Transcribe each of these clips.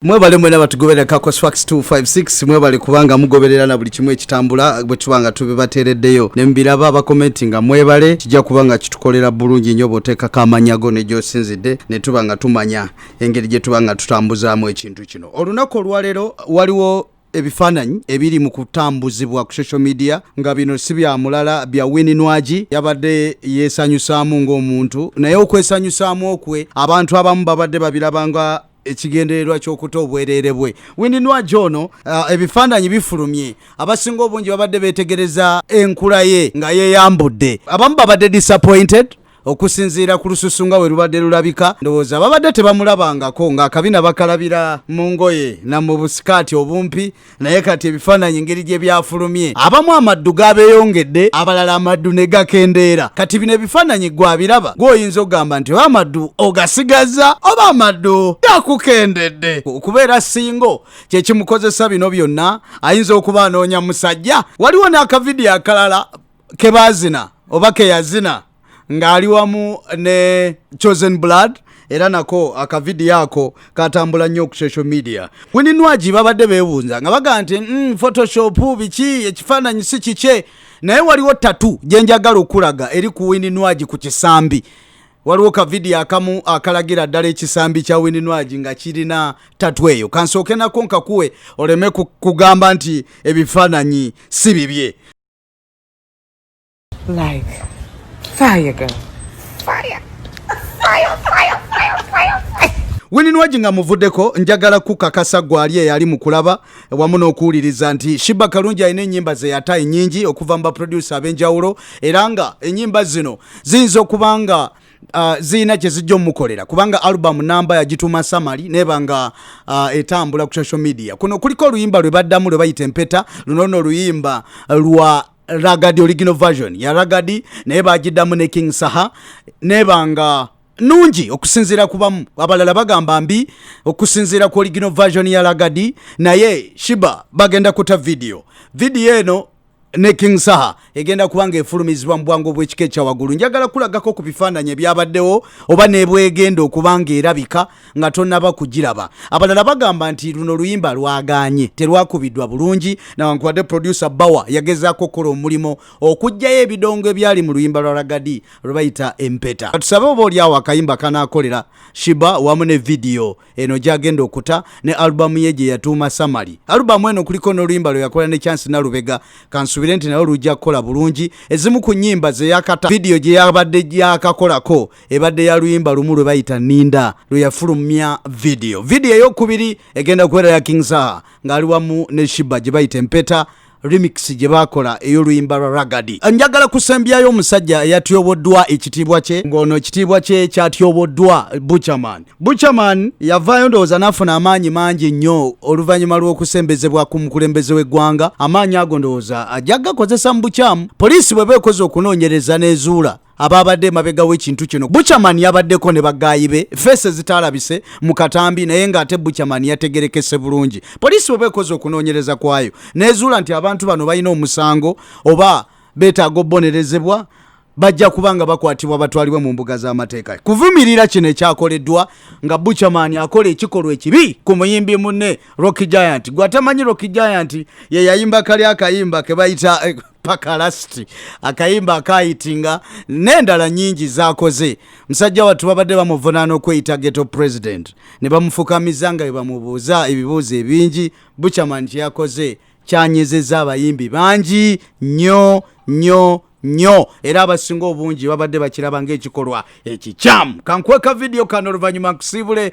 mwebale mwena batugoberera kakos fax 256 mwebale kubanga mugoberera na buli kimu ekitambula bwe tuba nga tubibateereddeyo ne mubiraba abakomenti nga mwebale kijja kuba nga kitukolera bulungi nnyo bw'oteekako amanya go ne gy'osinzidde ne tuba nga tumanya engeri gye tuba nga tutambuzaamu ekintu kino olunaku olwaleero waliwo ebifaananyi ebiri mu kutambuzibwa ku social media nga bino si bya mulala bya wini nwagi yabadde yeesanyusaamu ng'omuntu naye okwesanyusaamu okwe abantu abamu babadde babiraba nga ekigendererwa ky'okuta obwereere bwe windi nwagi ono uh, ebifaananyi bifulumye abasinga obungi babadde beetegereza enkula ye nga yeeyambudde abamu babadde disappointed okusinziira ku lususu nga we lubadde lulabika ndowooza babadde tebamulabangako ng'akabina bakalabira mu ngoye na mu busikaati obumpi naye kati ebifaananyi engeri gye byafulumye abamu amaddu gabeyongedde abalala amaddu ne gakendeera kati bino ebifaananyi gwabiraba gwoyinza okugamba nti oba amaddu ogasigazza oba amaddu gakukendedde okubeera singo kyekimukozesa bino byonna ayinza okuba anoonya musajja waliwo n'akavidiyo akalala kebaazina oba keyazina ng'ali wamu ne chosen blood era nako akavidiyo ako katambula nnyo ku social media wininwagi babadde bebuunza nga baga nti mm, photoshop biki ekifaananyi si kikye naye waliwo tatu gyenjagala okulaga eri ku wininwagi ku kisambi waliwo kavidiyo akamu akalagira ddala ekisambi kya wininwagi nga kirina tatu eyo kansooke nako nkakuwe oleme kugamba nti ebifaananyi si bibye Like fire girl. Fire. Fire, fire, fire, fire, fire. wininwagi nga muvuddeko njagala kukakasa gwali eyali mu kulaba wamu n'okuwuliriza nti shiba kalungi alina ennyimba zeyata ennyingi okuva mu baproducer ab'enjawulo era nga ennyimba zino ziyinza okuba nga uh, zirina kyezijja omukolera kubanga album namba yagituuma samali neba nga uh, etambula ku social media kuno kuliko oluyimba lwe baddamu lwe bayita empeta luno no oluyimba lwa ragadi original version ya ragadi naye bagiddamu ne king saha nebanga nungi okusinziira kubamu abalala bagamba mbi okusinziira ku original version ya ragadi naye shiba bagenda kuta vidiyo vidiyo eno ne king saha egenda kuba nga efulumizibwa mu bwangu obw'ekika ekya waggulu njagala kulagako ku bifaananyi ebyabaddewo oba nebwegenda okuba nga erabika nga tonaba kugiraba abalala bagamba nti luno luyimba lwaganye terwakubiddwa bulungi nawankubadde producer bawa yagezaako okukola omulimu okugjayo ebidongo ebyali mu luyimba lwa ragadi lwebayita empeta katusabe oba olyawo akayimba kanakolera shiba wamu ne vidiyo eno gyagenda okuta ne alubamu ye gye yatuuma samali alubamu eno kuliko n'oluyimba lwe yakola ne chansi nalubega kansubire nti nayo lujja kukola bulungi ezimu ku nyimba zeyakata vidiyo gye yabadde gyakakolako ebadde ya luyimba lumu lwe bayita ninda lwe yafulumya vidiyo vidiyo eyokubiri egenda kubeera ya king saha ng'ali wamu ne shiba gye bayita empeta remix gye baakola ey'oluyimba lwa ragadi njagala kusembyayo omusajja eyatyoboddwa ekitiibwa kye ng'ono ekitiibwa kye kyatyoboddwa buchaman buchaman yavaayo ndowooza n'afuna amaanyi mangi nnyo oluvannyuma lw'okusembezebwa ku mukulembeze w'eggwanga amaanyi ago ndowooza ajja gakozesa mu bukyamu poliisi bwe beekoze okunoonyereza n'ezuula ababadde emabega w'ekintu kino buchaman yabaddeko ne bagaayi be feese zitaalabise mu katambi naye ng'ate buchaman yategerekese bulungi poliisi bweba ekoze okunoonyereza kwayo nezuula nti abantu bano balina omusango oba beetaaga obubonerezebwa bajja kuba nga bakwatibwa batwalibwe mu mbuga z'amateeka kuvumirira kino ekyakoleddwa nga buchaman akola ekikolwa ekibi ku muyimbi munne rock giant gwe atamanyi rock giant yeyayimba kali akayimba kebayita eh, paka lasiti akayimba akayitinga n'endala nyingi zakoze musajja wattu babadde bamuvunaana okweyita geto president ne bamufukamiza nga bebamubuuza ebibuuzo ebingi buchaman kyeyakoze kyanyezeza abayimbi bangi nyo nyo nyo era abasinga obungi babadde bakiraba ngaekikolwa ekikyamu kankweka vidiyo kano oluvannyuma nkusiibule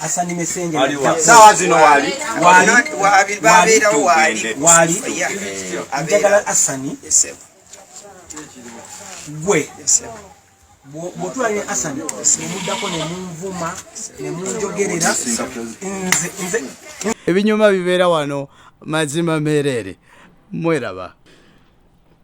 asanime senge sawa zino wali wali babera wali wali njagala asani gwe bwotula ne asani nemuddako nemunvuma nemunjogerera nze ebinyuma bibeera wano mazima mereere mweraba